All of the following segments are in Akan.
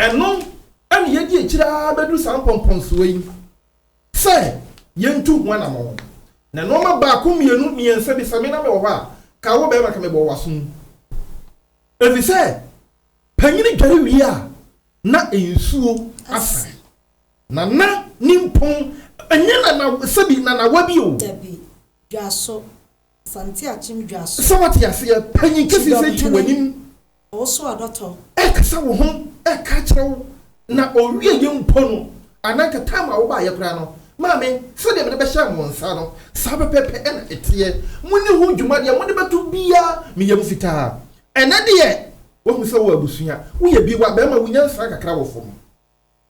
Ɛno na yɛadi akyiri ara bɛduru saa mpɔmpɔnsoɔ yi sɛ yɛntu ho anammɔn. Na nnoɔma baako mmienu mmiɛnsa bi, sɛ me na mewɔ hɔ a, ka wo barima ka mebɔɔ w'aso mu. Ɛfiri sɛ panyini dware wie a, na nsuo asa. Na na ne mpɔn, ɛnyɛ nanawa, sɛbi nanawa bi o. Dabi, dwaso. Asante akyem dwa so. Sɛ wote aseɛ, panyin kɛseɛ sɛn te w'anim. Ɔwoso adɔtɔ. Ɛkasa wo ho, ɛka kyerɛ wo. Na ɔwie yɛ mpo no, anaa nka time a wobaeɛ koraa no, maame, sɛdeɛ mede bɛhyɛɛ mo nsa no, saa pɛpɛɛpɛ na ɛteɛ. Monni ho dwuma, deɛ mode bɛto biara, meyɛ mo fitaa. Ɛnnɛ deɛ, woahu sɛ wowɔ abusua, woyɛ bi, w'abarima, wo nyansa kakra wɔ fam.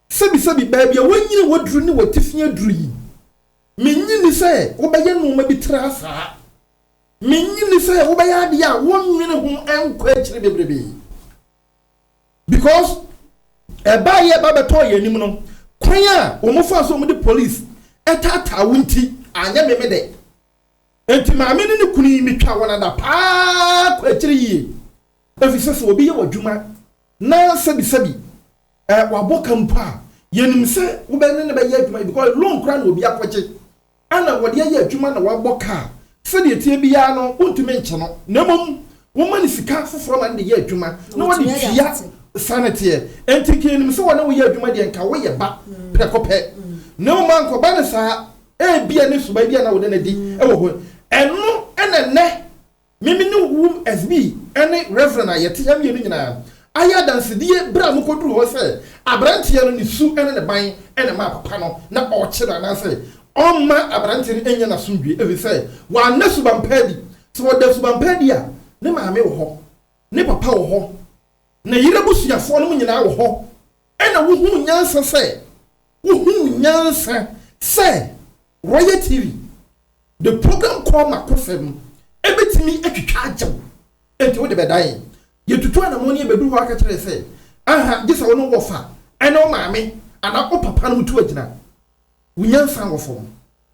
Sɛbisɛbi, baabi a woanyini w'aduru ne w'atifii aduru yi, Minnye nni sɛ wobɛyɛ nneɛma bi tra saa. Minnye nni sɛ wobɛyɛ adeɛ a wonnwene ho nkɔ akyiri bebrebe. Because ɛbaeɛ ɛba bɛtɔɔ yɛn anim no, kwan a wɔfaa so a wɔde police taataa wo nti, anyɛ me me dɛ. Enti maame ne ne kunu yi, metwa wɔn adapaa kɔ akyiri yie. Efisɛ sɛ obi yɛ w'adwuma na sɛbisɛbi Ɛɛ wabɔ ka mpo a, yɛnim sɛ wobɛ ne no bɛyɛ adwuma because loan koraa na obi akɔgye ɛna wɔde ayɛ adwuma na wabɔ ka a, sɛdeɛ ɛteɛ biara no wontumi nkyɛ no na mmom woma no sika foforɔ ma no de yɛ adwuma na ɔde tua saa na ɛteɛ. Ɛnti nka yɛnim sɛ wɔne wo yɛ adwuma deɛ nka woyɛ ba prɛko pɛ na mmom ankɔba no saa, ɛbia ne suban bi a na wode no adi wɔ hɔ ɛno ɛna ɛnnɛ. Me me ne wom SB ne Reverend a yɛte ha mmienu nyinaa ayɛ adansedie berɛ a mokɔduru hɔ sɛ aberanteɛ no ne su ne ne ban na ɛmaa papa no na ɔrekye no anaasɛ ɔmma aberanteɛ no nnya n'asomdwoeɛ ɛfiri sɛ wanna suban pa adi. Sɛ ɔda suban pa adi a, ne maame wɔ hɔ, ne papa wɔ hɔ, ne yere abusuafoɔ nom nyinaa wɔ hɔ Ɛna wohuu nyansa sɛ wohuu nyansa sɛ Royal TV de program kɔɔ m'akosɛm ɛbɛtumi atwitwa agya wo nti wode bɛdan. Yɛtutu anamɔn no yɛbɛduru hɔ aka kyerɛɛ sɛ aha gye sɛ wo ne wo wɔfa ɛne wo maame anaa wo papa nom tu agyina. Wo nyansa wɔ fam.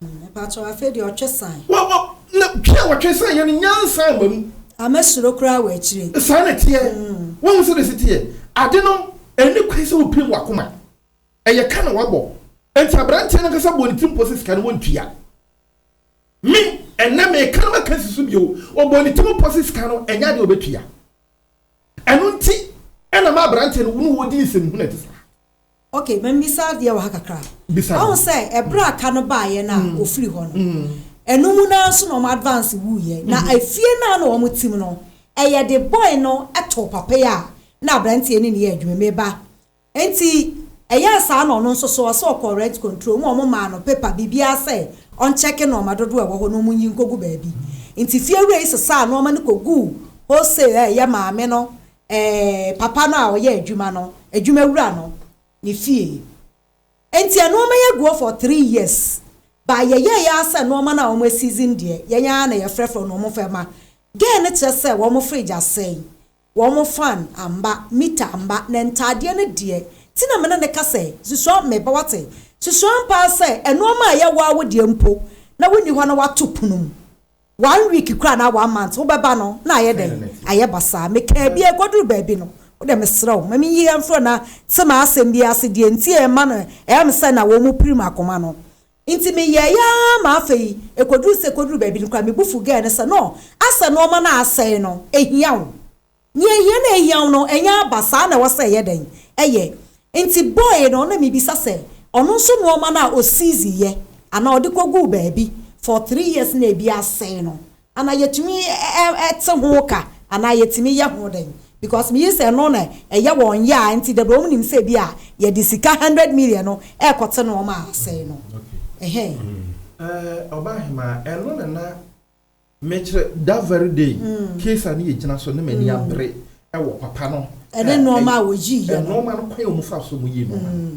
Mpakyɛw afei deɛ ɔtwe san. Wɔ wɔ na twe a wɔtwe san yɛ no nyansa mma mu. Ama suro koraa wɔ akyire. Saa na ɛteɛ. Woahu sɛdeɛ ɛsi teɛ? Ade no, ɛnni kwan sɛ wopirim w'akoma. Ɛyɛ ka na wɔabɔ. Enti aberanteɛ no ankasa bɔɔ ne tirim pɔ sɛ sika no wɔntua. Me, ɛnnɛ meka na maka asi so bio, ɔbɔɔ ne tirim pɔ sɛ sika no ɛnyɛ adeɛ a ɔbɛtua. Ɛno nti na ɛma aberanteɛ no ne wo di nsɛmhunu a ɛte saa. Okay, ma mimmisa adeɛ wɔ ha kakra. Bisa no. Ɔhu sɛ ɛberɛ a ka no baeɛ no a mm. ɔfiri hɔ no, mm. ɛno mu naa so na wɔn advance wuiɛ. Na mm-hmm. efie naa na wɔn tim no, ɛyɛ de boy no ɛtoo papa yi a na aberanteɛ ne ne yɛ adwuma mu ba. Nti ɛyɛ saa na ɔno nso so ɔsɛ ɔkɔ rent control mu a wɔn maa no paper biribiara sɛ ɔnkyɛke nɔɔma dodoɔ ɛwɔ hɔ na wɔn nyi nkogu baabi. Nti fie wura yi sesaa nɔɔma no koguu wholesale a ɛyɛ maame no papa no a ɔyɛ adwuma no, adwuma wura no, ne fie. Enti nnoɔma yi agu hɔ for three years. But yɛyɛɛ yɛ ara sɛ nnoɔma no a wɔn asiizin deɛ, yɛn ara na yɛfrɛfrɛ wɔn na wɔn fɛ ma. Girl no kyerɛ sɛ wɔn fridge asɛe, wɔn fan amma, meter amma, na ntaadeɛ no deɛ. Nti na me ne no ka sɛ, Susua, me ba wate, susua ampa ara sɛ nnoɔma a ɛyɛ wo ara wo deɛ mpo, na wonni hɔ na woato pono mu. One week koraa anaa one month wobɛba no na ayɛ dɛn? Ayɛ basaa. Mekaa bi ɛkɔduru baabi no, wode mesrɛ wo ma menyi ha mfiri na sɛ m'asɛm bi ase deɛ nti a ɛma no ɛyɛ me sɛ na wɔrepirim akoma no nti meyɛeɛ ara ma afei ɛkɔduru sɛ ɛkɔduru baabi no koraa me bo fu girl no sɛ no asɛ nnoɔma no a asɛe no ɛhia wo Nea ehia na ehia wo no, ɛnyɛ aba, saa na ɛwɔ sɛ ɛyɛ dɛn? Ɛyɛ. Enti boy no na mibisa sɛ, ɔno nso nnoɔma no a osiizi yɛ, anaa ɔde kɔguu baabi, for three years na ebi asɛe no, anaa yɛtumi te ho ka, anaa yɛtumi yɛ ho dɛn? Because meyii sɛ ɛno na ɛyɛ wɔn ya a, enti dabrɛ wɔn nim sɛ ebia yɛde sika hundred million no ɛrekɔte nnoɔma a asɛe no. Ɛhɛɛ. Ɛɛ, Ɔbaahemaa, ɛno na na Mekyerɛ, that very day, case a ne yɛ gyina so ne m'ani abere wɔ papa no a ɛyɛ nnoɔma a wɔyi yɛ no, nnoɔma no kwan a wɔn fa so wɔn yi nnoɔma no,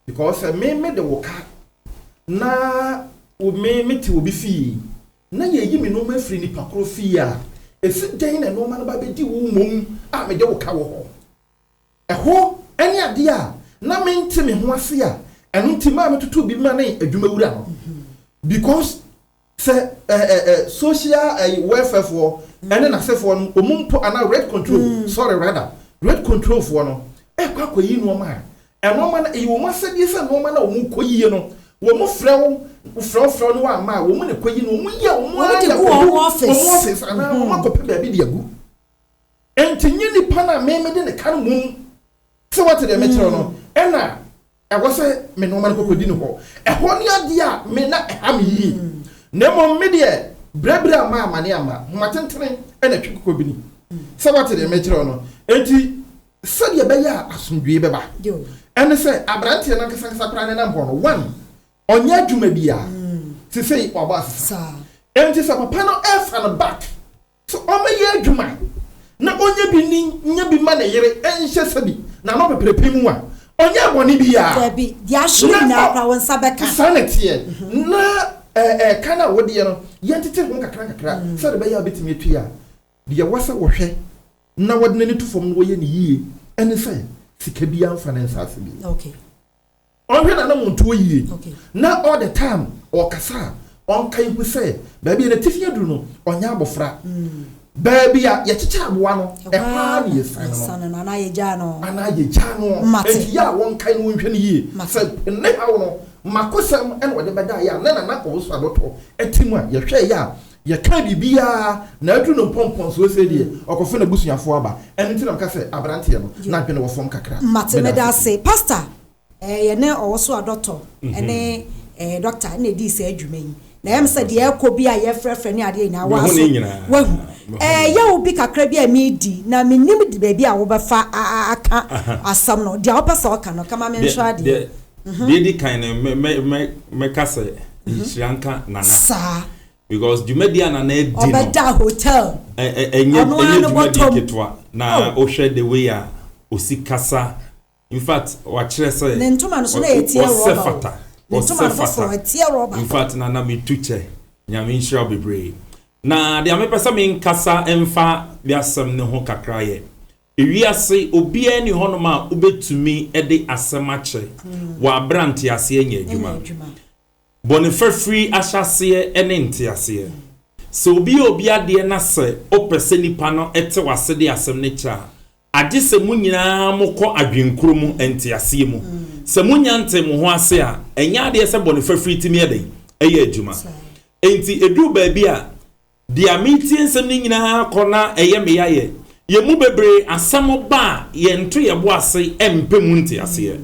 because sɛ me me de wo ka na wo me me te obi fie na yɛ yi me nnoɔma afiri nipa koro fie a, ɛfi dɛn na nnoɔma no ba bɛ di wo mmom a me de wo ka wɔ hɔ? Ɛhɔ ɛne adeɛ a na me nte me ho ase a ɛno nti maa me toto bi ma ne adwuma wura no, because. Sɛ eh eh eh social ɛyi welfare foɔ ɛne nasefoɔ no ɔmo mpo anaa red control sorry rather red control foɔ no ɛɛkɔ akɔyi nnoɔma a ɛnoɔma no ɛyɛ ɔmo asɛdeɛ sɛ nnoɔma no a ɔmo kɔ yie no ɔmo frɛ wo frɛ wo frɛ wo no wamma a ɔmo na ɛkɔ yi no ɔmo yi a ɔmo ara de akogu ɔmo office anaa ɔmo akɔ pɛ baabi de agu ɛnti nye nipa no a me me de ne ka no mum sɛ wate deɛ mekyerɛ no ɛna Ɛwɔ sɛ me nnoɔma no kɔkɔdi ne hɔ. Ɛhɔ ne adeɛ a me na ɛha me yie. Na mmom me deɛ, berɛberɛ a maa amane amma, nhoma tentene na ɛtwe kɔkɔbini. Sɛ woate deɛ merekyerɛ wo no? Enti sɛdeɛ ɛbɛyɛ a asomdwoeɛ bɛba, ɛne sɛ aberanteɛ no ankasankasa koraa nenam hɔ no, one, ɔnyɛ adwuma biara. Seesei wabɔ asesa. Enti sɛ papa no resa no back So ɔmmɛyɛ adwuma na ɔnyɛ bi nni, nyɛ bi mma ne yere nhyɛ sɛ bi na ano peperepe mu a, ɔnyɛɛ bɔne biara? Dabi, deɛ ahye no nyinaa koraa, wo nsa bɛka. Saa na ɛteɛ. Na ɛka no a wodeɛ no, yɛntete ho nkakrankakra, sɛdeɛ ɛbɛyɛ a wobɛtumi atua a. Deɛ ɛwɔ sɛ wɔhwɛ na wɔde n'ani to fam na wɔyɛ no yie ne sɛ, sika biara mfa ne nsase bio. Okay. Ɔnhwɛ n'anammɔntuo yie na all the time ɔrekasa a, ɔnkae hu sɛ baabi a n'atifi aduru no, ɔnyɛ abɔfra. Baabi a yɛkyekyɛ aboa no, ɛhɔ ara na yɛsiane no anaa yɛgyaa no. Anaa yɛgyaa no. Enti yɛ a wɔnkae na wɔnhwɛ no yie. Sɛ ne haw no, mmakosɛm na ɔde bɛda yɛ a, ne nana ɔwoso abɔtɔ ti mu a, yɛhwɛeɛ a, yɛkaa biribiara na aduru no mpɔmpɔnsoɔ sei deɛ, ɔkɔfa n'abusuafoɔ aba. Ɛno nti na meka sɛ aberanteɛ no, n'adwene wɔ fam kakra. Mate, meda ase. Pastor, Yɛne ɔwosoɔ dɔktɔ ne dɔkta na ɛdii saa adwuma yi. Na ɛyɛ me sɛ deɛ ɛrekɔ bi a yɛfrɛfrɛ ne adeɛ nyinaa wo aso wahu. Ɛyɛ wo bi kakra bi a meredi na menim de baabi a wobɛfa aka asɛm no. Deɛ wopɛ sɛ ɔka no, kama menhwɛ adeɛ. Deɛ di kan no, mɛka sɛ nhyira nka Nana. Saa. Because dwumadi a Nana adi no. Ɔbɛda hotel. Ɛnyɛ dwumadi ketewa. Na wohwɛ the way a osi kasa. In fact, wakyerɛ sɛ. Ne ntoma no so na ɛteɛ rɔba o. Ɔsɛ fata. Ne ntoma no foforɔ ɛteɛ rɔba. In fact, na na metu kyɛ. Nyame nhyira wo bebree. Na deɛ mepɛ sɛ menkasa mfa de asɛm no ho kakra yɛ, ewiase obiara nni hɔnom a wobɛtumi de asɛm akyɛ wɔ aberɛ a nteaseɛ nyɛ adwuma. Bɔne fafiri ahyɛaseɛ ne nteaseɛ. Sɛ obi yɛ obi adeɛ na sɛ wopɛ sɛ nipa no te w'ase de asɛm no kyɛ a, agye sɛ mo nyina ara mokɔ adwenkoro mu, nteaseɛ mu. Sɛ monya ntee mo ho ase a, ɛnyɛ adeɛ sɛ bɔne fafiri tumi yɛ dɛn? Ɛyɛ adwuma. Enti ɛduru baabi a, deɛ meretie nsɛm no nyina ara kɔ na ɛyɛ me yaeɛ. Yɛn mu bebree, asɛm ba a, yɛnto yɛn bo ase mpɛ mu nteaseɛ.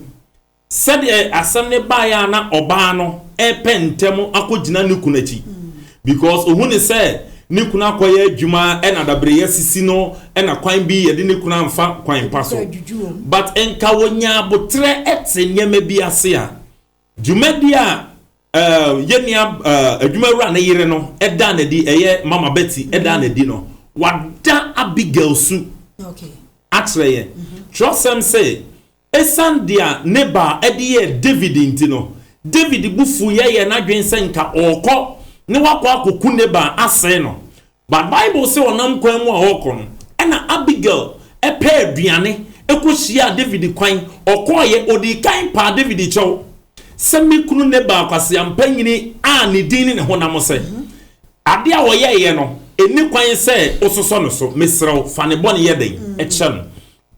Sɛdeɛ asɛm no baeɛ ara na ɔbaa no repɛ ntɛm akɔgyina ne kunu akyi because ɔhu no sɛ ne kunu akɔyɛ adwuma na dabrɛyɛ asisi no na kwan bi yɛde ne kunu amfa kwan pa so but nka ɔnyaa aboterɛ te nneɛma bi ase a dwumadie a yɛn nua adwumawura no yere no daa no adi ɛyɛ Mama Betty daa no adi no wada Abigail su akyerɛ yɛn twerɛsɛm se Esiane deɛ Nabal de yɛɛ Dawid nti no, Dawid bo fuui yɛɛ n'adwene sɛ anka ɔrekɔ na wakɔ akɔku Nabal asɛe no. But Bible se ɔnam kwan mu a ɔrekɔ no, ɛna Abigail pɛɛ aduane kɔhyiaa Dawid kwan. Ɔkɔeɛ, ɔdii kan paa Dawid kyɛw sɛ, Me kunu Nabal kwaseampa nyini a ne din ne ne honam sɛ, adeɛ a ɔyɛeɛ no, ɛnni kwan sɛ wososɔ no so. Mesrɛ wo, fa ne bɔne yɛ dɛn? Kyɛ no.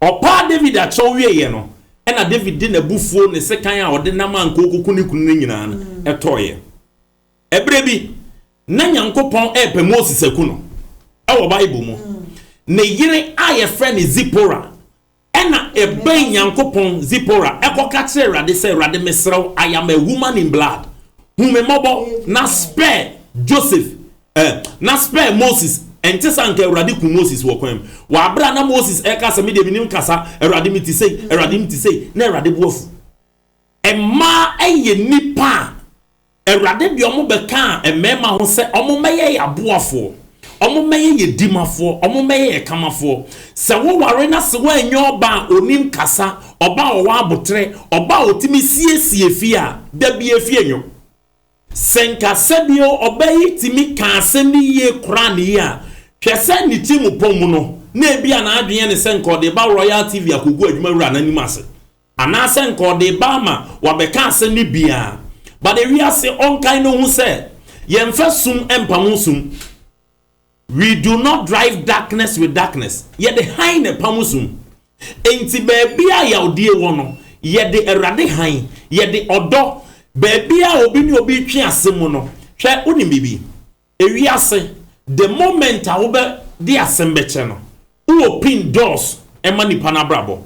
Ɔpɛ a David akyerɛw wieeɛ no, ɛnna David de n'abufuo, ne sekan a ɔde nam anka ɔrekɔku ne kunu no nyinaa no tɔeɛ. Ɛberɛ bi, na Nyankopɔn repɛ Moses aku no. Wɔ Bible mu, ne yere a wɔfrɛ no Zipora na ɛbɛn Nyankopɔn, Zipora kɔka kyerɛɛ Awurade sɛ, Awurade, mesrɛ wo, I am a woman in blood. Hu me mmɔbɔ na spare Joseph Ɛ, na spare Moses, ɛnte sɛ anka Awurade kum Moses wɔ kwan mu. Wɔ abere a na Moses ɛka sɛ, Me deɛ menim kasa, Awurade me te sei, Awurade me te sei, na Awurade bo afu. Mmaa ɛyɛ nnipa a Awurade de wɔn bɛkaa mmarima ho sɛ wɔn mmɛyɛ yɛ aboafoɔ, wɔn mmɛyɛ yɛ dimafoɔ, wɔn mmɛyɛ yɛ kamafoɔ. Sɛ wo ware na se woanyɛ ɔba a onim kasa, ɔba a ɔwɔ aboterɛ, ɔba a otumi siesie fie a, da biara fie nwo. Sɛ nka sɛdeɛ ɔbaa yi tumi kaa asɛm no yie koraa nie a, hwɛ sɛ ne ti mu pɔ mu no, na ebia n'adwene yɛ no sɛ nka ɔde reba Royal TV akɔgu adwuma wura no anim ase, anaasɛ nka ɔde reba ama wabɛka asɛm no bi ara. But ewiase ɔnkae no ho sɛ, yɛmfa sum mpamo sum. We do not drive darkness with darkness, Yɛde hann na ɛpamo sum. Enti baabiara a yawdie wɔ no, yɛde Awurade hann, yɛde ɔdɔ, baabiara a obi ne obi retwe ase mu no, hwɛ, wonim biribi? Ewiase, the moment a wobɛ de asɛm bɛkyɛ no, wo open doors ma nipa no abrabɔ.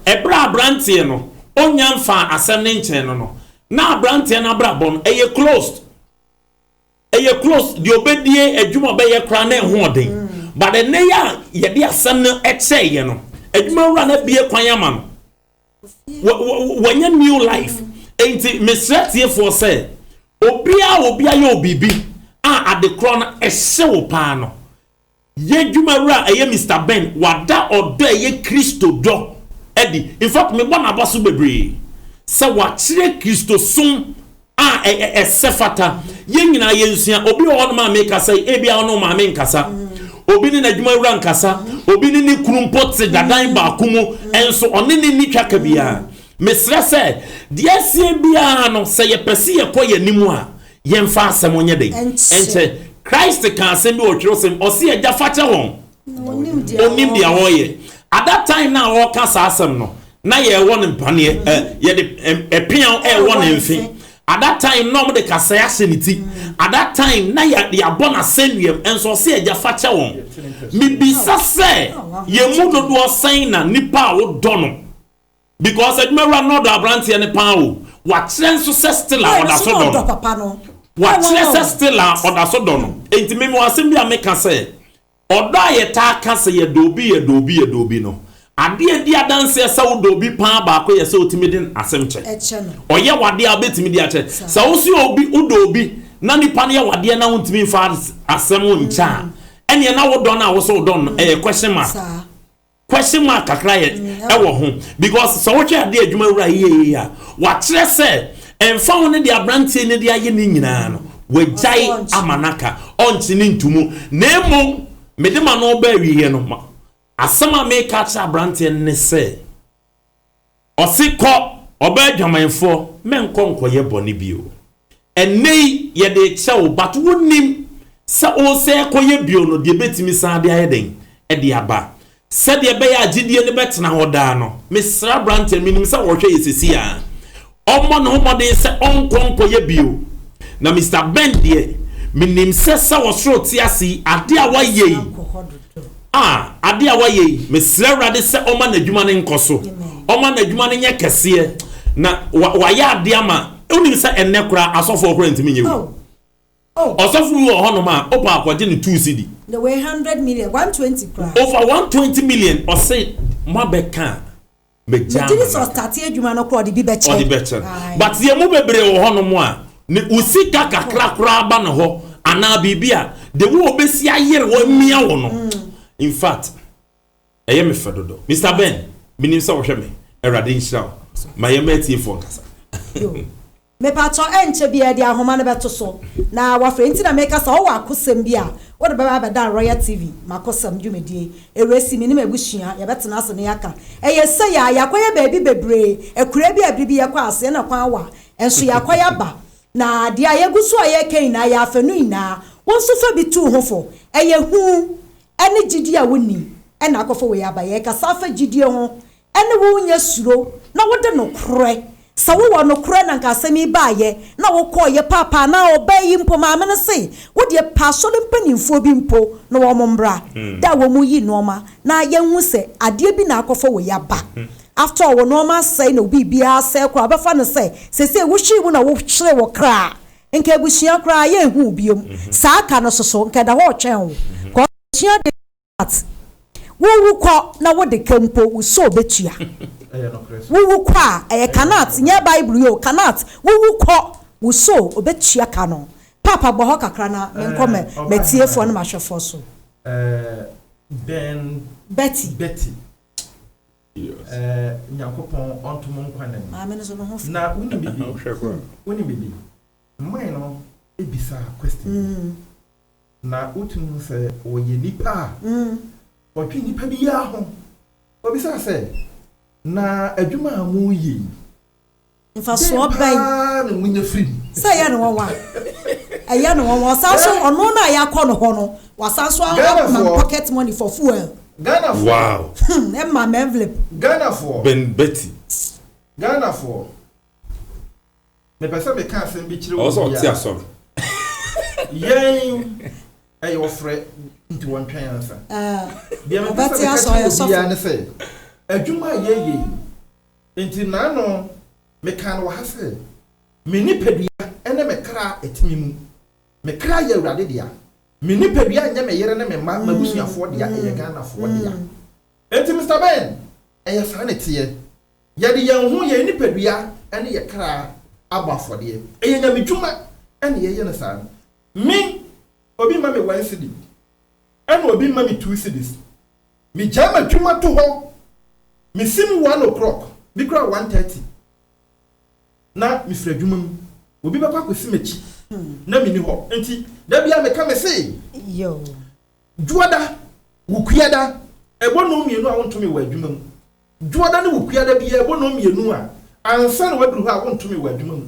Ɛberɛ a abranteɛ no, onnya mfaa asɛm no nkyerɛɛ no no, na abranteɛ no abrabɔ no, ɛyɛ closed. Ɛyɛ close deɛ ɔbɛdie adwuma a ɔbɛyɛ koraa na ɛho ɔden but ɛnnɛ yi a yɛde asɛm no kyɛɛ yɛ no adwuma wura no abue kwan ama no wanya new life ɛnti mesrɛ atiefoɔ sɛ obiara a obi ayɛ wo biribi a adekorɔ no ɛhye wo paa no Yɛn adwuma wura a ɛyɛ Mister Ben, wada ɔdɔ a ɛyɛ Kristo dɔ adi. In fact, mebɔ no abɔso bebree sɛ wakyerɛ Kristosom a ɛsɛ fata. Yɛn nyinaa yɛnsua. Obi wɔ hɔnom a mekasa yi, ebia ɔne wo maame nkasa, obi ne n'adwuma wura nkasa, obi ne ne kunu mpo te dadan baako mu, nso ɔne no nni twaka biara. Mesrɛ sɛ, deɛ asie biara no, sɛ yɛpɛ sɛ yɛkɔ yɛn anim a, Yɛmfa asɛm nyɛ dɛn? Nkyɛ. Christ kã asɛm bi wɔ kyerɛwsɛm mu, ɔse Agya fakyɛ hɔn, onnyim dza wɔreyɛ. At that time no a ɔrekã saa asɛm no, na yɛwɔ no mpaneɛ, ɛ, yɛde ɛ, peaw rewɔ ne mfe. At that time na wɔde kasae ahyɛ ne ti. At that time na yɛ, yɛabɔ no asɛnnua mu, nso ɔse Agya fakyɛ hɔn. Mibisa sɛ, yɛn mu dodoɔ sɛn na nipa a wodɔ no, Because adwumawura no ɔdɔ abranteɛ no paa o. Wakyerɛ nso sɛ still a ɔda so dɔ no. Wakyerɛ sɛ still a ɔda so dɔ no. Enti me mewɔ asɛm bi a meka sɛ, ɔdɔ a yɛtaa ka sɛ yɛdɔ obi, yɛdɔ obi, yɛdɔ obi no, adeɛ a ɛdi adanseɛ sɛ wodɔ obi paa baako yɛ sɛ ɔtumi de asɛm kyɛ. Ɔyɛ wo adeɛ a wobɛtumi de akyɛ. Sɛ wo nso yɛ obi, wodɔ obi na nipa no yɛ wo adeɛ na wontumi mfa asɛm nkyɛ a, ɛnneɛ na wo dɔ no a wo se wodɔ no no, ɛyɛ question mark. question mark kakra yɛ ɛwɔ ho because sɛ wohwɛ adeɛ adwuma wura yie a wakyerɛ sɛ ɛnfa ho ne de aberanteɛ ne de ayɛ ne nyinaa no wagyae ama no aka ɔnkye ne ntomu na mmom mede ma no ɔba awieɛ no asɛm a meka kyerɛ aberanteɛ ne sɛ Ɔse kɔ, ɔbaa adwamanfoɔ, mɛnkɔ nkɔyɛ bɔne bio. Ɛnnɛ yi yɛde rekyerɛ wo but wonnim sɛ woresɛ rekɔyɛ bio no deɛ ɛbɛtumi san de ayɛ dɛn? de aba. Sɛdeɛ ɛbɛyɛ a gyedie no bɛtena hɔ daa no, mesrɛ aberanteɛ, menim sɛ wɔrehwɛ yɛ seesei ara. ɔmmɔ ne ho mmɔden sɛ ɔnkɔ nkɔyɛ bio. Na Mister Ben deɛ, menim sɛ sɛ ɔsoro te ase yi, adeɛ a wayɛ yi, ah, adeɛ a wayɛ yi, mesrɛ Awurade sɛ ɔmma n'adwuma no nkɔ so, ɔmma n'adwuma no nyɛ kɛseɛ, na wa, wayɛ adeɛ ama, wonim sɛ ɛnnɛ koraa asɔfoɔ koraa ntumi nyɛ wei. Ɔsɔfo bi wɔ hɔnom a, wopɛ a kɔgye no two cedi. Na wei hundred million, one twenty koraa. Ɔfa one twenty million, ɔse moabɛka a, Megyaa Megye di sɛ manaka. ɔtate adwuma no koraa ɔde bi bɛkyɛ. Ɔde bɛkyɛ no. Ae. But yɛn mu bebree wɔ hɔnom a, ne wo sika kakra koraa ba ne hɔ anaa biribi a, the way obesi ayere wo amia wo no, in fact, ɛyɛ me fɛ dodo. Mister Ben, menim sɛ wohwɛ me. Awurade nhyira wo. Ma yɛmma atiefoɔ nkasa. Yo. Mepaatɔ ɛnkyɛ biaa deɛ ahoma no bɛto so na wafrɛ nti na meka sɛ ɔwɔ akosɛm bi a wode bɛba abɛdan Royal TV makosɛm dwumadie ɛwurasi menim abusua yɛbɛtena ase na yɛaka ɛyɛ sei a yɛakɔyɛ baabi bebree akuraa bi a biribi yɛkɔ aseɛ na kwan wa nso yɛakɔyɛ aba na deɛ a yɛgu so a yɛreka nyinaa yɛ afɛ no nyinaa wo nso fa bi tu ho fo ɛyɛ hu ɛne gyidie a wonni ɛna akɔfa wei aba yɛkasa afa gyidie ho ne wo nyɛ suro na wode nokorɛ, sɛ wowɔ nokorɛ na anka asɛm yi baeɛ na wokɔeɛ paapa anaa ɔbaa yi mpo maame no se wo deɛ pɛ asɔre mpaninfoɔ bi mpo na wɔn mmra da a wɔn yi nnoɔma na yɛnhu sɛ adeɛ bi na akɔfa wei aba after all wo nnoɔma asɛe na wo biribiara asɛe koraa wobɛfa no sɛ seisei wohwee mu na wohyeree wo kra a nka abusua koraa yɛnhu wo biom saa ka no soso nka ɛda hɔ retwɛn wo kɔ sua adeɛ What? Wowu kɔ na wode ka mpo, wo soul bɛtua. Wowu kɔ a, ɛyɛ cannot, nyɛ Bible yi o, cannot. Wowu kɔ, wo soul ɔbɛtua ka no. Paapa bɔ hɔ kakra na menkɔ m'atiefoɔ ne m'ahwɛfoɔ so. Ben Betty. Betty. Yes. Eh, Nyankopɔn ɔntom nkwa na mu. Maame no so no ho fi. Na woni bibi. Wohwɛ kwa. Woni bibi. Mmae no bisa question bi na wotumi hu sɛ wɔyɛ nipa a wɔdwen nipa biara ho. Obisaa sɛ, Na adwuma a moreyɛ yi, dɛn paa na monya firi mu? Sɛ ɛyɛ no nwanwa a, ɛyɛ no nwanwa. Ɔsan nso, ɔno no a yɛakɔ no hɔ no, wasan nso ama me pocket money for fuel. Ghanafoɔ. Wow. Hmm, ɛma me envelope. Ghanafoɔ. Ben Betty. Ghanafoɔ. Mepɛ sɛ meka asɛm bi kyerɛ Ɔwɔ sɛ obi a ɔte asɔr. yɛn ɛyɛ ɔfrɛ nti wɔntwɛn ansa. Deɛ mepɛ sɛ Ɔbɛte meka asɔr kyerɛ yɛ obiara sɔfo. ne sɛ adwuma a yɛyɛ yi nti naano mekaa no wɔ ha sɛ me nipadua ne me kra ɛte me mu. Me kra yɛ Awurade dea. Me nipadua nyɛ me yere ne me mma, m'abusuafoɔ dea, ɛyɛ Ghanafoɔ dea. Enti Mister Ben, ɛyɛ saa na ɛteɛ. Yɛde yɛn ho, yɛn nipadua ne yɛn kra abɔ afɔdeɛ. Ɛyɛ Nyame dwuma na yɛyɛ no saa. Me, obi mma me one cedi, ɛna obi mma me two cedis. Megyae m'adwuma to hɔ, mesi mu one o'clock, bi koraa one thirty, na mefiri adwuma mu. Obi bɛkɔ akɔsi m'akyi na menni hɔ. Enti da biara meka mese. Dwoɔda, Wukuada, Ɛbɔ nnɔn mmienu a wontumi wɔ adwuma mu. Dwoɔda ne Wukuada biara bɔ nnɔn mmienu a ansa na woaduru hɔ a wontumi wɔ adwuma mu.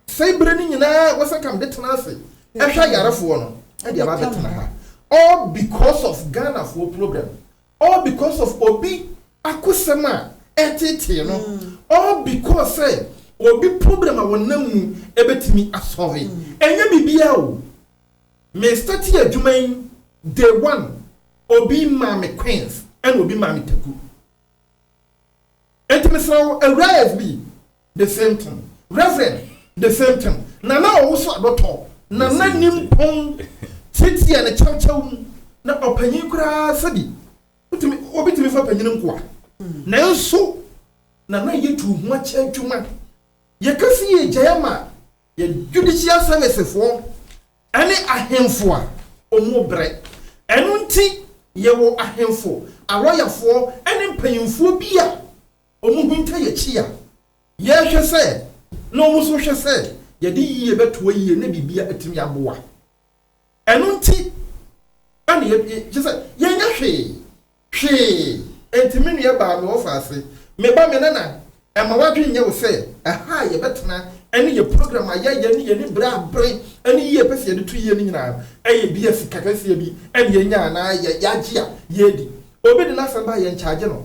Afei bere no nyinaa Wesakam de tena ase hwɛ ayarefoɔ no de aba abɛtena ha all because of Ghanafoɔ program, all because of obi akosɛm a ɛtetee no, all because sɛ obi program a wɔnam mu ɛbɛtumi asɔre. Ɛnyɛ biribiara o. Me startee adwuma yi day one obi maa me Queens ɛna obi maa me Taku. Enti mesrɛ wo Awuraa SB the same thing, Reverend the same thing, Nana Owusu Adotɔ, Nana Nimpong tiatiaa no kyawkyaw mu na ɔpanyin koraa sɛbi wotumi obi tumi fa panyin nkoa. Nanso Nana yɛ tu ho akyɛ adwuma. Yɛka se yɛgyae ama Yɛ judicial service foɔ ɛne ahemfo a ɔmo brɛ. Ɛno nti yɛ wɔ ahemfo, alɔyafoɔ ɛne mpanyinfoɔ bi a ɔmo hinta yɛ akyi a yɛhwɛ sɛ na ɔmo nso hwɛ sɛ yɛde yie bɛtoa yie na biribia atumi aboa. Ɛno nti ɛna yɛ kyerɛ sɛ yɛnyɛ hwee Hwee. Enti me nua baa me ɔfa ase. Me ba, me nana, mma w'adwene nyɛ wo sɛ ɛha a yɛbɛtena ne yɛn program a yɛyɛ ne yɛn bere a bere ne yie a yɛpɛ sɛ yɛde to yie no nyinaa yɛ ebia sika kɛseɛ bi na yɛnya anaa yɛagye a yɛredi. Obi de n'asɛm ba a yɛnkyagye no.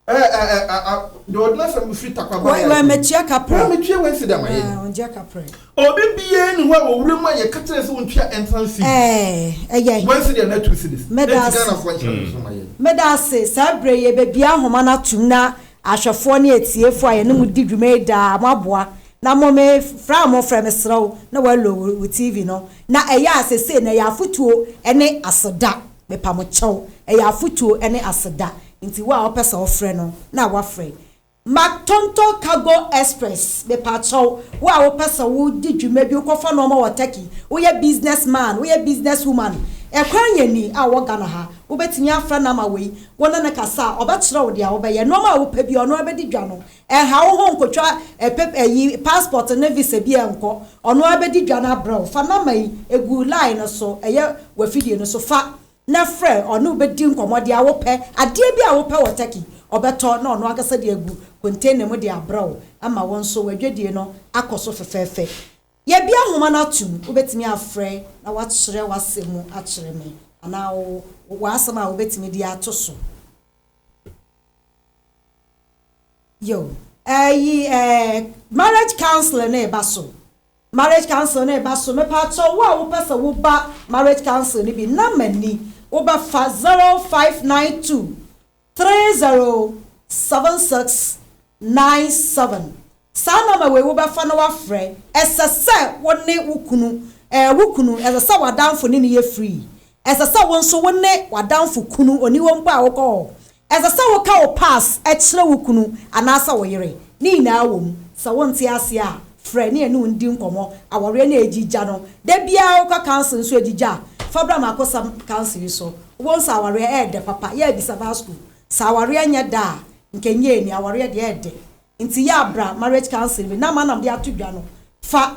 Eh, eh, eh, ah, ah, deɛ ɔde n'asɛm firi Takwaba High School. Wai, wai, metua ka prɛ. Wai, metua wai sida ma yɛn. Ah, ɔngya ka prɛ. Obi biara nni hɔ a wɔ wuram a yɛka kyerɛ no sɛ ontwea ntra nsi bi. Ɛyɛ he? Wansi deɛ na two cedis. Meda Enti ase. Ghanafoɔ nkyerɛ no nso ma yɛn. Meda ase. Saa berɛ yi, yɛbɛbue ahoma no atom na ahwɛfoɔ ne atiefoɔ a yɛne mo di dwuma yi daa, moaboa. Na mo, me frɛ a mofrɛ, mesrɛ wo, na woallow wo, wo TV no. Na ɛyɛ a seesei no, ɛyɛ afotuo ne aseda. Mepa mo kyɛw. Ɛyɛ afotuo ne aseda. Nti wo a wopɛ sɛ wofrɛ no, na woafrɛ. Matonto cargo express mepakyɛw wo a wopɛ sɛ wo di dwuma bi wokɔfa nnoɔma wɔ Turkey woyɛ business man woyɛ business woman ɛkwan yɛ ni a wɔ Ghana ha wobɛtumi afrɛ number wei wo ne no kasa a ɔbɛkyerɛ wo deɛ wobɛyɛ nnoɔma a wopɛ biara ɔno ara bɛdi dwa no ɛnha wo ho nkotwa pap ayi passport ne visa bi a nkɔ ɔno ara bɛdi dwa no abrɛ wo fa number yi ɛgu line no so ɛyɛ w'afidie no so fa na frɛ ɔne wo bɛdi nkɔmmɔ deɛ wopɛ. Adeɛ biara a wopɛ wɔ Turkey, ɔbɛtɔ na ɔno ankasa de agu container mu de abrɛ wo ma wo nso w'adwadie no akɔ so fɛfɛɛfɛ. Yɛabue ahoma no atom, wobɛtumi afrɛ na woakyerɛ w'asɛm mu akyerɛ me anaa wo w'asɛm a wobɛtumi de ato so. Yo, ɛyi ɛɛ marriage counseling no reba so. Marriage council no reba so mepatɔ wo a wopɛ sɛ wo ba marriage council no bi number ni wo bɛ fa zero five nine two three zero seven six nine seven saa number wei wo bɛ fa na wa frɛ ɛsɛ sɛ wo ne wo kunu ɛɛ wo kunu ɛsɛ sɛ w'adanfo ne ne yɛ free Ɛsɛ sɛ wo nso wo ne w'adamfo kunu, oniwa mpo a, wokɔ hɔ. Ɛsɛ sɛ woka wo pass kyerɛ wo kunu anaasɛ wo yere. Ne nyinaa wom. Sɛ wonte ase a, frɛ ne ɛne wo ndi nkɔmmɔ. Awareɛ no a ɛgyi gya no, da biara wokɔ council nso ɛgyi gya a, fa bra m'akosɛm council yi so. Wobɛhu sɛ awareɛ ɛyɛ dɛ papa. Yɛ abisa baa school. Sɛ awareɛ nyɛ dɛ a, nka ɛnyɛ ani. Awareɛ deɛ ɛyɛ dɛ. Nti yɛ abra marriage council bi na ama nam de ato dwa no. Fa.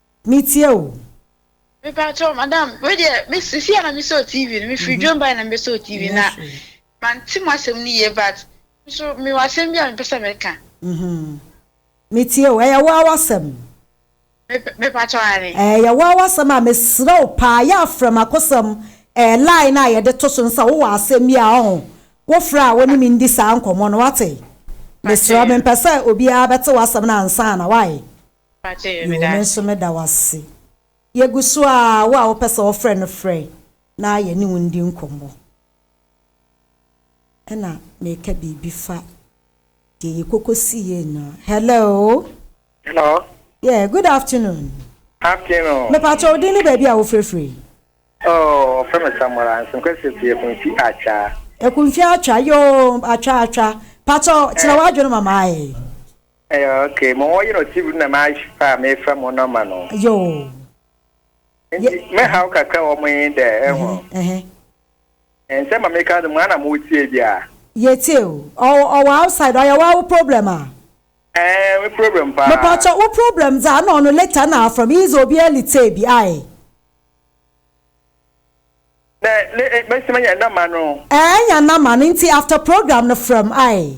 Me tie o. Me pa kyɛw madam wei deɛ me sisi a na me sɔɔ TV no me firi dwom bae na me bɛ sɔɔ TV na ma nti mo asɛm no yie but nso me wɔ asɛm bi a me pɛ sɛ me ka. Me tie o ɛyɛ waa wasɛm. Me pa kyɛw ane. Ɛyɛ waa wasɛm a me srɛ wo paa yɛ afrɛ ma kosɛm ɛɛ line a yɛde to so no sɛ wo wɔ asɛm bi a ɔho wo frɛ a wo ne me ndi saa nkɔmɔ no wate me srɛ me mpɛ sɛ obiara bɛ te wasɛm no ansa na wae. Yoo, me nso meda wo ase. Yegu so aa, wo a wopɛ sɛ wɔfrɛ no frɛ na yɛne wo ndi nkɔmmɔ. Ɛna meka biribi fa deɛ yɛkɔkɔsiiɛ nyinaa. Hello. Hello. Yeah, good afternoon. Afternoon. Mepatwa wo din ne baabi a wofirefire yi. Oh, wɔfrɛ me Samora Nsenkwasi fi Ekunfi Atwa. Ekunfi Atwa, yoo, Atwa Atwa. Patwa, kyerɛ w'adwene ma maa yɛ. Ɛyɛ ok mo wɔ yerɔ TV no na ma ahye paa a me frɛ mo nɔma no. Yoo. Nti me how kakra wɔ mo he dɛ ɛho. Ɛhɛn. Nsɛm a me ka no mo a na mo tie bia. Yɛ tie o. Ɔwɔ outside ɔyɛ waa wo problem a. Ɛɛn me problem paa. Mepakyɛ wo problem dze a na ɔno later na afrɛ me yi dze obi early tee bi ae. Dɛ ne mesi menya nɔma no. Ɛɛn nya nɔma no nti after program no frɛ m ae.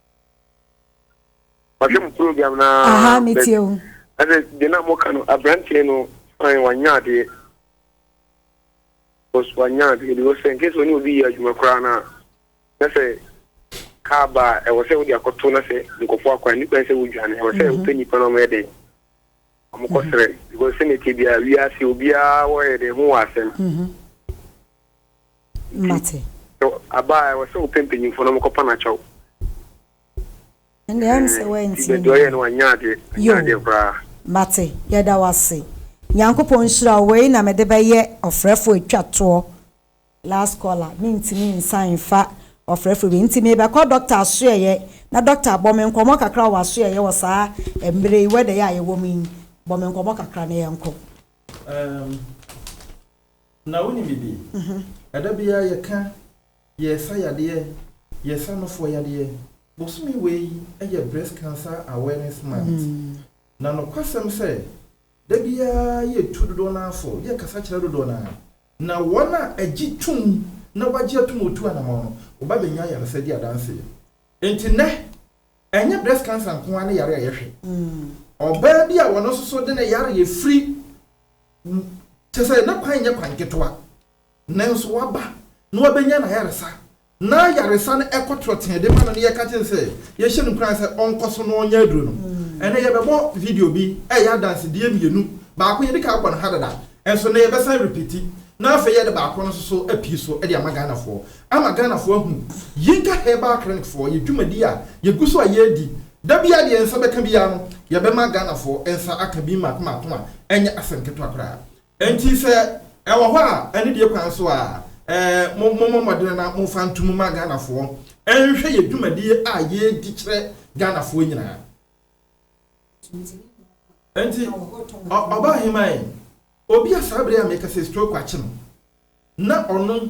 mahwɛ mu program na aha metie o ɛsɛ deɛ na moka no aberanteɛ no fae wanya adeɛ because wanya adeɛ because sɛ nkɛ sɛ ɔne obi yɛ adwuma koraa no a na sɛ kaa ba a ɛwɔ sɛ wode akɔto na sɛ nkɔfoɔ akwan ne kwan sɛ wodwane ɛwɔ sɛ mhm. wopɛ nnipa no ɔmɛyɛ dɛn ɔmokɔserɛ mhm. because sɛnɛtie biaa wiase obiaa wɔyɛ dɛn ho wɔ asɛm mhm. Mate. Abaa ɛwɔ sɛ wopɛ mpanyimfoɔ na wɔkɔ pa no akyɛw. Ɛnde ɛm sɛ wantie me. Ti bɛdɔyɛ no wanyɛ adeɛ. Anyɛ adeɛ koraa. Mate. Yɛda wo ase. Nyankopɔn nhyira wo. Wei na mede bɛyɛ ɔfrɛfoɔ atwa toɔ. Last caller. Mentumi nsan mfa ɔfrɛfoɔ bio. Nti mebɛkɔ dɔkta asoɛeɛ. Na dɔkta bɔ me nkɔmmɔ kakra wɔ w'asoɛeɛ wɔ saa mmerɛ yi, weather yi a yɛwɔ mu yi. Bɔ me nkɔmmɔ kakra na yɛnkɔ. Um. Na wonim biribi? Ɛda biara yɛka yɛresa yadeɛ, yɛresa nofoɔ yadeɛ. Bosome wei yɛ Breast Cancer Awareness Month. Na nokwasɛm sɛ, da biara yɛtu dodoɔ no ara fo, yɛkasa kyerɛ dodoɔ no ara. Na wɔn a agye tom na wɔagye atom a wɔtu anamɔn no, wɔba bɛnya ayaresa di adanseɛ. Enti nnɛ, ɛnyɛ breast cancer nko ara ne yare a yɛhwɛ. Ɔbaa bi a ɔno nso so de ne yareɛ firi. Kyerɛ sɛ na kwan nyɛ kwan ketewa. Nanso waba na wabɛnya n'ayaresa. Na ayaresa no ɛkɔ torɔ tee de ma no na yɛka kyerɛ no sɛ yɛhyɛ no nkuran sɛ ɔnkɔ so na ɔnyɛ aduro no. Ɛnnɛ yɛbɛbɔ video bi ɛyɛ adansedie mmienu. Baako yɛde kan abɔ no ha dada nso nnɛ yɛbɛsan repiti na afei yɛde baako no nso so apue so de ama Ghanafoɔ ama Ghanafoɔ ahu Yinka Herbal Clinic foɔ yɛ dwumadi a yɛgu so a yɛredi Da biara deɛ yɛn nsa bɛka biara no, yɛbɛma Ghanafoɔ nsa aka bi mmaako mmaako a ɛnyɛ asɛm ketewa koraa. Enti sɛ ɛwɔ hɔ a, anidie kwan so a, eh, mo, mommɔ mmɔden na momfa nto mu mma Ghanafoɔ nhwɛ yɛn dwumadie a yɛredi kyerɛ Ghanafoɔ nyinaa. Enti, ɔ, Ɔbaaheman, obi a saa berɛ a meka sɛ stroke akye no, na ɔno,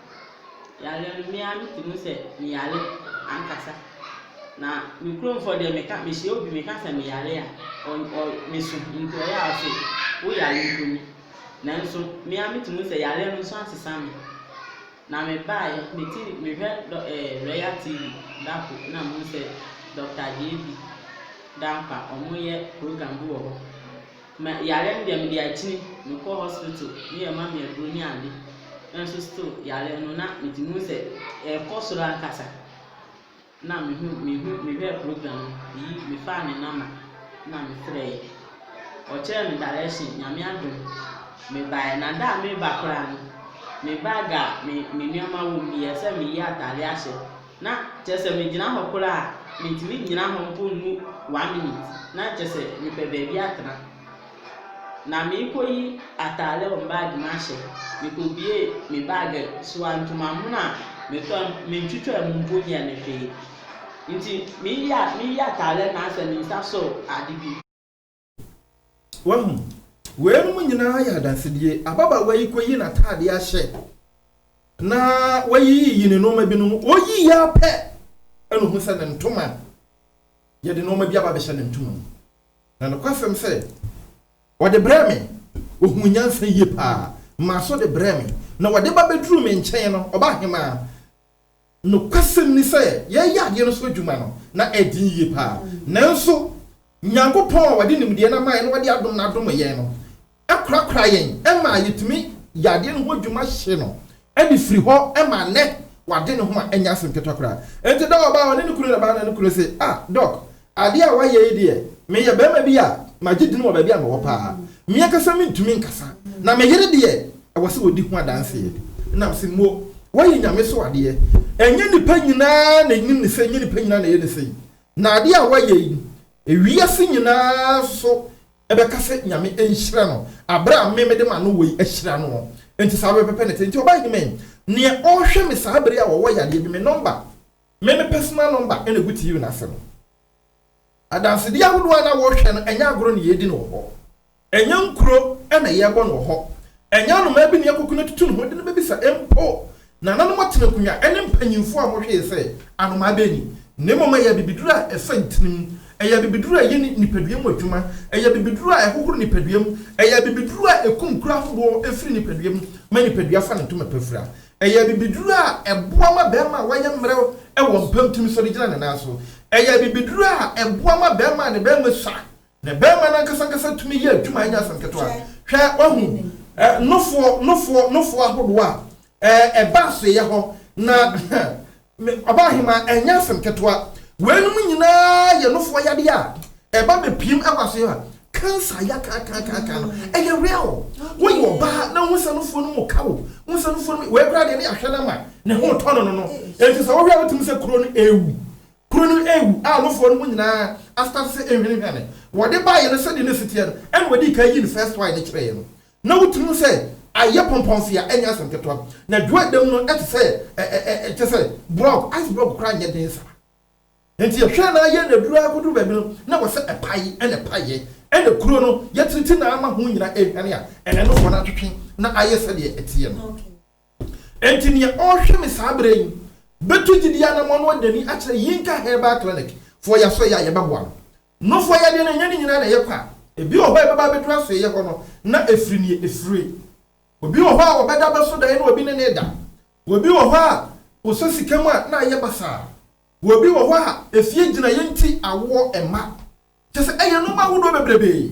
Yareɛ no me ara me te mu sɛ me yare ankasa. Na me kurom foɔ deɛ me ka me hyia obi me ka sɛ me yare a ɔ ɔ me so nti ɔyɛ a ɔse wo yare mpo ni. Nanso me ara me te mu sɛ yareɛ no nso asesa me. Na me baa yɛ me ti me hwɛ dɔ ɛɛ eh, Royal TV da ko na me hu sɛ Dɔkta JB Dankwa ɔmo yɛ program bi wɔ hɔ. Me yare no deɛ mede akyini mekɔ hospital ne yɛ ma me aduro ne ade nso still yare no na metumi hu sɛ ɛkɔ soro ankasa na mehu mehu mehwɛ program no meyi mefaa ne namba na mefrɛɛ ɔkyerɛɛ me direction nyame adom mebaeɛ na da a meba koraa no me bag a me me nneɛma wɔ mu yɛ sɛ meyi atade ahyɛ Na kyerɛ sɛ megyina hɔ koraa a, mentumi nnyina hɔ mpo nnu one minute, na kyerɛ sɛ mepɛ baabi atena. Na merekɔyi atadeɛ wɔ me baage mu ahyɛ, mekɔbuee me baage so a, ntomamono a metɔɔ no, mentwitwaa mu mpo nyɛɛ no hwee. Nti mereyi a mereyi atadeɛ no ara sɛ me nsa sɔɔ ade bi. Wahu? Weinom nyinaa yɛ adansedie. Ababaawa yi kɔyi n'ataadeɛ ahyɛ na wayiyiyi ne nnoɔma binom. Ɔyiyi ara pɛ ɛna ɔhu sɛ ne ntoma, yɛde nnoɔma bi aba abɛhyɛ ne ntoma mu. Na nokwasɛm sɛ, ɔde brɛɛ me, ɔhuu nyansa yie paa, maa so de brɛɛ me. Na ɔde ba bɛduruu me nkyɛn no, ɔbaahemaa, Nokwasɛm ni sɛ, yɛyɛ adeɛ no so adwuma no, na ɛden yie paa. Nanso, Nyankopɔn a Ɔde nimdeɛ no ama yɛn na Ɔde adom no adom yɛn no kora-kora yɛn ma yɛtumi yɛ adeɛ no ho adwuma hye no de firi hɔ ma nnɛ Wade ne ho a ɛnyɛ asɛm ketewa koraa. Enti da ɔbaa hɔ ne ne kunu reba no ne kunu se, Ah, Doc, Adeɛ a wayɛ yi deɛ, meyɛ barima bi a magye din wɔ baabi a mewɔ paa. Me ankasa mentumi nkasa, na me yere deɛ, ɛwɔ sɛ ɔdi ho adanseɛ. Nam se mmuo, wayi Nyame so adeɛ. Ɛnyɛ nnipa nyinaa na ɛnim ne sei, ɛnyɛ nnipa nyinaa na ɛyɛ ne sei. Na adeɛ a wayɛ yi, ewiase nyinaa nso bɛka sɛ Nyame nhyira no, aberɛ a me mede m'ano wei ahyira noɔ. Enti saa bɛ pɛpɛ na ɛte. Enti ɔbaa yi de me, neɛ ɔhwɛ me saa bere a ɔwɔ yadeɛ bi, me nɔmba. Me me personal number na egu TV no ase no. Adansedi ahodoɔ a na wɔhwɛ no ɛnyɛ agorɔ na yɛredi no wɔ hɔ. Ɛnyɛ nkuro na yɛrebɔ no wɔ hɔ. Ɛnyɛ anomaa bi na yɛkɔku no atutu ne ho de no bɛbisa mpo. Nananom atene nkonnwa ne mpanyimfoɔ a wɔhwee sɛ anomaa bɛn ni. Na mmom ɛyɛ abibiduro a ɛsɔ ntirim. Ɛyɛ abibiduro a ɛyɛ nipadua mu adwuma. Ɛyɛ abibiduro a ɛhohoro nipadua mu. Ɛyɛ abibiduro a ɛkum kuro ahodoɔ firi nipadua mu ma nipadua fa ne ntoma pa fira. Ɛyɛ abibiduru a ɛboa ma barima a wayɛ mmerɛw wɔ mpam tumi sɔre gyina ne nan so. Ɛyɛ abibiduru a ɛboa ma barima a ne barima sua, ne barima no ankasa ankasa tumi yɛ adwuma a ɛnyɛ asɛm ketewa. Hwɛ, wahu nofoɔ, nofoɔ, nofoɔ ahodoɔ a ɛba asoɛeɛ hɔ, na Me ɔbaahemaa, ɛnyɛ asɛm ketewa. Weinom nyinaa yɛ nofoɔ yadeɛ a ɛba bɛpiem wɔ aso yɛ a cancer ya kaakaakaaka no. Ɛyɛ real. Woyɛ ɔbaa na wohu sɛ nofoɔ no mu ka wo. Wohu sɛ nofoɔ no mu, wei koraa deɛ ne yɛahwɛ no ama ne ho retɔ no no no. Enti sɛ wohwɛ a wotumi sɛ kuro no ɛrewu. Kuro no ɛrewu a nofoɔ no mu nyinaa astarte sɛ ɛhwanihwane. Wɔde baeɛ no sɛdeɛ na ɛsi teɛ no ɛna wɔdii kan yii no first one no kyerɛeɛ no. Na wotumi hu sɛ ayɛ pɔmpɔnfea, ɛnyɛ asɛm ketewa. Na dwoe dam no te sɛ ɛ, ɛ, ɛ, ɛ, kyerɛ sɛ, blɔg, ice blɔg koraa nyɛ den saa. Enti yɛhwɛɛ no ara yɛɛ no aduru ara koduru baabi no, na ɛwɔ sɛ ɛpae, ɛnna ɛpaeɛ. Ɛnna kuro no, yɛatiriti no ara ma ho nyinaa rehwane a ɛnnɛ no wɔn atwetwe na ayɛ sɛdeɛ ɛteɛ no. Enti nea ɔrehwɛ me saa berɛ yi bɛtu gyidie anammɔn na wadi n'ani akyerɛ Yinka Herbal Clinic foɔ yɛ a sɛ ɔyɛ a yɛbɛboa no. Nnofua yadeɛ no, ɛnyɛ ne nyinaa na ɛyɛ kwa. Ebi wɔ hɔ a ɛbɛba abɛduru asoɛeɛ hɔ no, na afiri nea ɛfire. Obi wɔ hɔ a ɔbɛda abɛso daeɛ na obi ne no reda. Obi wɔ hɔ a, ɔsɔ sika mu a, na ayɛ basaa. Obi wɔ hɔ a, efie gyinaeɛ nti, awoɔ mma. Kyerɛ sɛ, ɛyɛ nnoɔma ahodoɔ bebrebee.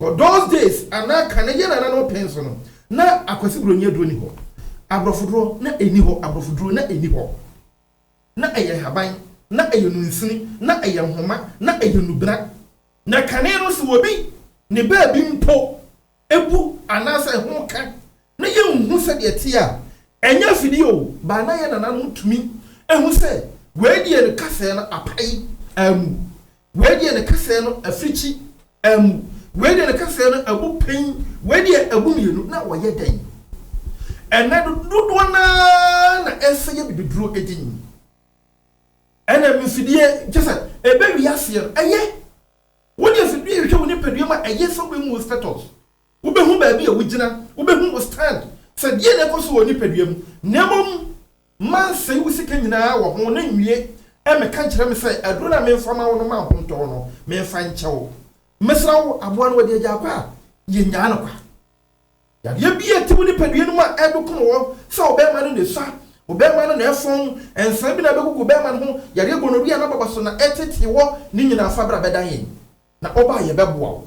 Wɔ those days anaa kane yɛn nananom pɛn so no, na Akwasi Buroni aduro nni hɔ. Aborɔfoduro, na ɛnni hɔ. Aborɔfoduro, na ɛnni hɔ. Na ɛyɛ nhaban, na ɛyɛ nunsini, na ɛyɛ nhoma, na ɛyɛ nubena. Na kane no, sɛ obi ne baabi mpo bu anaasɛ ɛho ka Na yenhu sɛdeɛ ɛteɛ a, ɛnyɛ afidie o, but na yɛn nananom tumi hu sɛ wei deɛ ne kasɛɛ no apae amu, wei deɛ ne kasɛɛ no afirikyi amu, wei deɛ ne kasɛɛ no abu pɛn, wei deɛ abu mmienu, na wɔyɛ dɛn? Ɛnnɛ no, dodoɔ no ara na ɛsɛ yɛ bibiduro din. Ɛna mfidie, kyerɛ sɛ ɛbɛwie aseɛ no, ɛyɛ. Wode afidie hwehwɛ wo nipadua mu a, ɛyɛ sɛ wobɛmu wo status. Wubehu baabi a wugyina, wubehu wo stand sɛ deɛn na ɛkɔ so wɔ nipadua mu, na mmom mansɛe wo sika nyinaa wɔ ho na nwie mmɛka nkyerɛ me sɛ aduro no a memfa ma wo no ma ahontɔɔ no memfa nkyɛ wo. Mesrɛ wo aboa no wɔde agya akɔ a, yɛnnyaa no kwa. Yadeɛ bi a ɛte wo nipadua no mu a ɛredokom wo sɛ wo bɛɛma no na ɛsua, wo bɛɛma no na ɛfɔn, nsan bi na ɛbɛgugu wo bɛɛma no ho, yadeɛ gonorrhea na baba so na ɛtetee wɔ ne nyinaa fa bra bɛdan yɛn na ɔba a yɛbɛboa wo.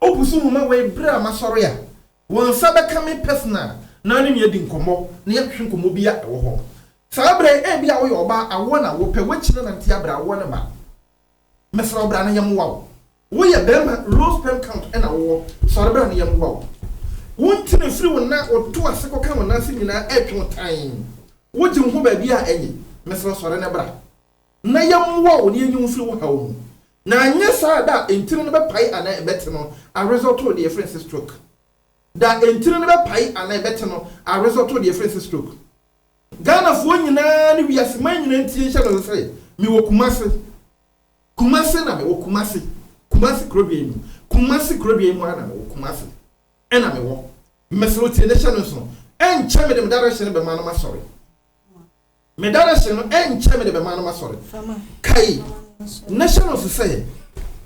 Obu so nnwuma wei bere a masɔre a wɔn nsa bɛka me personal na ne no adi nkɔmmɔ na yɛahwehwɛ nkɔmmɔ bi a ɛwɔ hɔ. Saa bere yi ebia woyɛ ɔbaa, awo na wopɛ, woakyi na nante abrɛ awoɔ ne mma. Mɛsrɛ wo bra na yɛmmoa wo. Woyɛ barima, low sperm count na wowɔ, sɔre bra na yɛmmoa wo. Wo nti na ɛfiri wo nan woto ase kɔka wo nan ase nyinaa ɛretwe wo tann. Wogye wo ho baabi a ɛnye, mɛsrɛ wo sɔre na bra. na yɛmmoa wo na yenyi wo mfiri wo haw mu, na anyɛ saa a da a ntini no bɛpae anaa ɛbɛte no a result to deɛ yɛfrɛ no sɛ stroke. Da a ntini no bɛpae anaa ɛbɛte no a result to deɛ yɛfrɛ no sɛ stroke. Ghanafoɔ nyinaa ne wiase man nyinaa ntie nhyɛ no sɛ mewɔ Kumase, Kumase na mewɔ, Kumase, Kumase kurodua yi mu, Kumase kurodua yi mu ara na mewɔ, Kumase na mewɔ. Mesrɛ wo tie ne hyɛ no nso, ɛnkyɛ mede me direction bɛma na masɔre. Me dadahyɛ no, ɛnkyɛ mede bɛma no m'asɔre. Kae, na hyɛ no nso sɛ,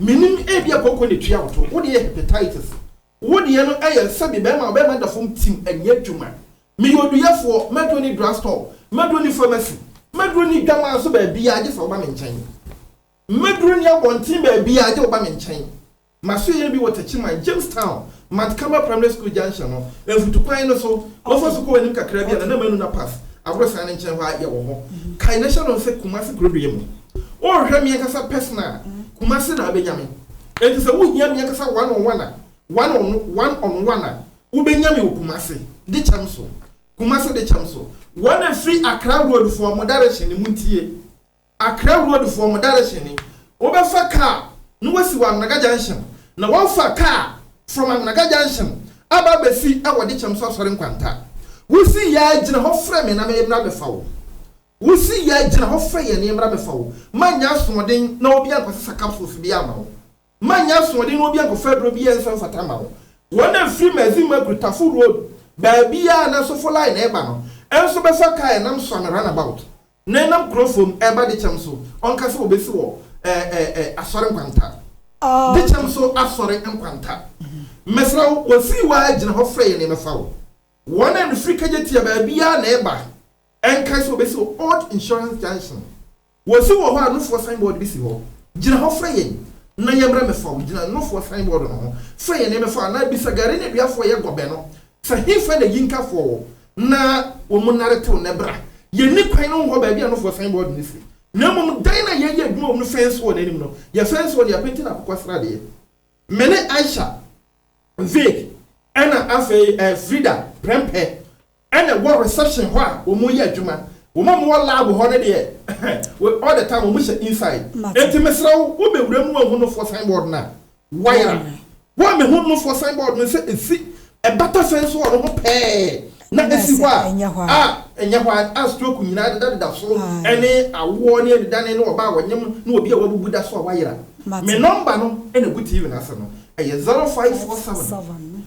Minnim, ebia kooko na etua wo to. Wo deɛ yɛ hepatitis. Wo deɛ no yɛ sɛdeɛ bɛrima a ɔbɛrima da fam tim nyɛ adwuma. Meyɛ oduyɛfoɔ, m'aduro nni drugstore, m'aduro nni pharmacy, m'aduro nni dwamaa so baabiara gye sɛ woba me nkyɛn. M'aduro nni abɔnten baabiara gye woba me nkyɛn. M'asoɛe bi wɔ Techiman, Jamestown, Mount Carmel Primary School Junction no mfutu kwan no so, wɔfa sukuu hɔ anim kakraa bi a Nana Manu na Pass aborosan no nkyɛn hɔ a yɛwɔ hɔ. Kae na hyɛ no nse Kumasi Kurodua mu. Worehwɛ me ankasa personal a, Kumasi na abenya me. Enti sɛ wohia me ankasa one on one a, one on one on one a, wobenya me wɔ Kumasi de kyɛm so. Kumasi de kyɛm so. Wɔn a ɛfiri Accra Road fo a mo direction no mu ntie. Accra Road foɔ mo direction ni, wobɛfa car na wasi wɔ Anwnaga junction na wafa car from Anwnaga junction aba abɛsi ɛwɔ Dekyɛm so asɔre nkwanta. Wosi yaa gyina hɔ frɛ me na me mmra mɛfa wo. Wosi yaa gyina hɔ frɛ yɛn na yɛmmra mɛfa wo. Manyɛ asoɔden na obi ankɔsesa capsules biaa ama wo. Manyɛ asoɔden na obi ankɔfa aduro biaa anso amfata ama wo. Wɔn a ɛfiri Mazi Makru, Tafo Road, baabiaa na Asofo Line ɛɛba no nso bɛfa car ɛnam Suame Runabout Na ɛnam kuro fam ɛreba dekyɛm so, ɔnka sɛ ɔbɛsi wɔ ɛɛ asɔre nkwanta. Dekyɛm so asɔre nkwanta. Mɛsra wo, wɔsii wɔ ara gyina hɔ frɛ yɛn na yɛmɛfa wo. Wɔn a ɛfiri Kagyetia baabiara na ɛreba, ɛnkae sɛ ɔbɛsi wɔ Old Insurance Junction. Wɔsi wɔ hɔ a Nufoɔ signboard bi si hɔ. Gyina hɔ frɛ yɛn na yɛmmra mɛfa wo. Gyina Nufoɔ signboard no ho frɛ yɛn na yɛmɛfa wo anaa bisa Gari Nneduafoɔ a ɛyɛ Gɔbɛ no sɛ hefa na Yinkafoɔ wɔ. na wɔn nare tew nnɛ bere a yenni kwan no nhɔ baabi a nofo sign board no si, na mmom dan no a yɛreyɛ adwuma wom no fɛn so wɔ n'anim no, yɛfɛn so wɔ nea penti no akokwa srade yɛ. Me ne Aisha, Vic, ɛna afei eh, Frida prɛmpɛ ɛna ɛwɔ reception hɔ a wɔreyɛ adwuma. Wɔn a wɔwɔ lab hɔ no deɛ, all the time wɔhyɛ inside. Enti mesrɛ wo, wobɛwura mu anhu nofo sign board no a, Wayera me. Wo a me ho nofoɔ san bɔɔ no sɛ ɛsi ɛbata sɛn so wɔ no ho pɛɛ na ɛsi hɔ a, a ɛnyɛ hɔ a stroke nyinaa dedadeda so ne awoɔ ne anidane ne ɔbaa a ɔnyem ne obi a wabubu da so a wayera. Me nɔmba no na ɛgu TV no ase no, ɛyɛ zero five four seven.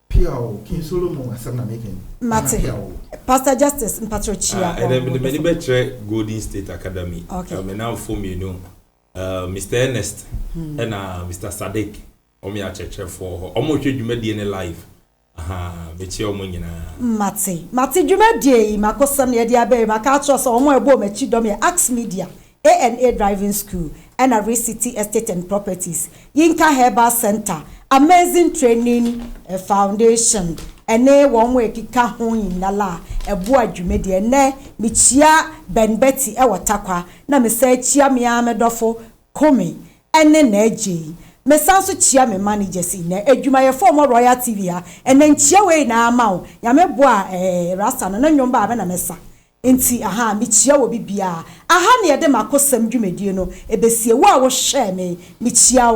Pia o, King Solomon asɛm na meka yi. Mate. Pia o. Pastor Justice mpakyɛw kyia hɔ. Ah, ɛnɛ mede m'ani bɛkyerɛ Golden State Academy. Okay. Me namfo mmienu, uh, Mr. Ernest hmm. ɛna Mr. Sadiq, wɔn yɛ akyerɛkyerɛfoɔ hɔ. Wɔn rehwɛ dwumadie ne live. Aha, mekyia wɔn nyinaa. Mate. Mate dwumadie yi, makosɛm na yɛde abɛɛ, maka akyerɛ sɛ wɔn a ɛbɔ wɔn akyi dɔm yɛ Axe Media. ANA Driving School ɛna Rich City Estate and Properties, Yinka Herbal Centre, Amazing Training Foundation ɛne wɔn a ɛkeka ho nyinala a ɛboa dwumadie. Ɛnnɛ mekyia Ben Betty ɛwɔ Takwa na mesan kyia me ara me dɔfo Kome ɛne Najey. Mesan nso kyia me managers nyinaa, adwumayɛfoɔ a wɔwɔ Royal TV ha. Ɛnnɛ nkyia wei nyinaa ama wo. Nyame boa a ɛɛ Rasta no ne nnwom baa me na mesa. Enti ahaa, mekyia wo obi biara. Aha ne yɛde m'akosɛm dwumadie no ɛbɛsie. Wo a wohwɛɛ me, mekyia wo.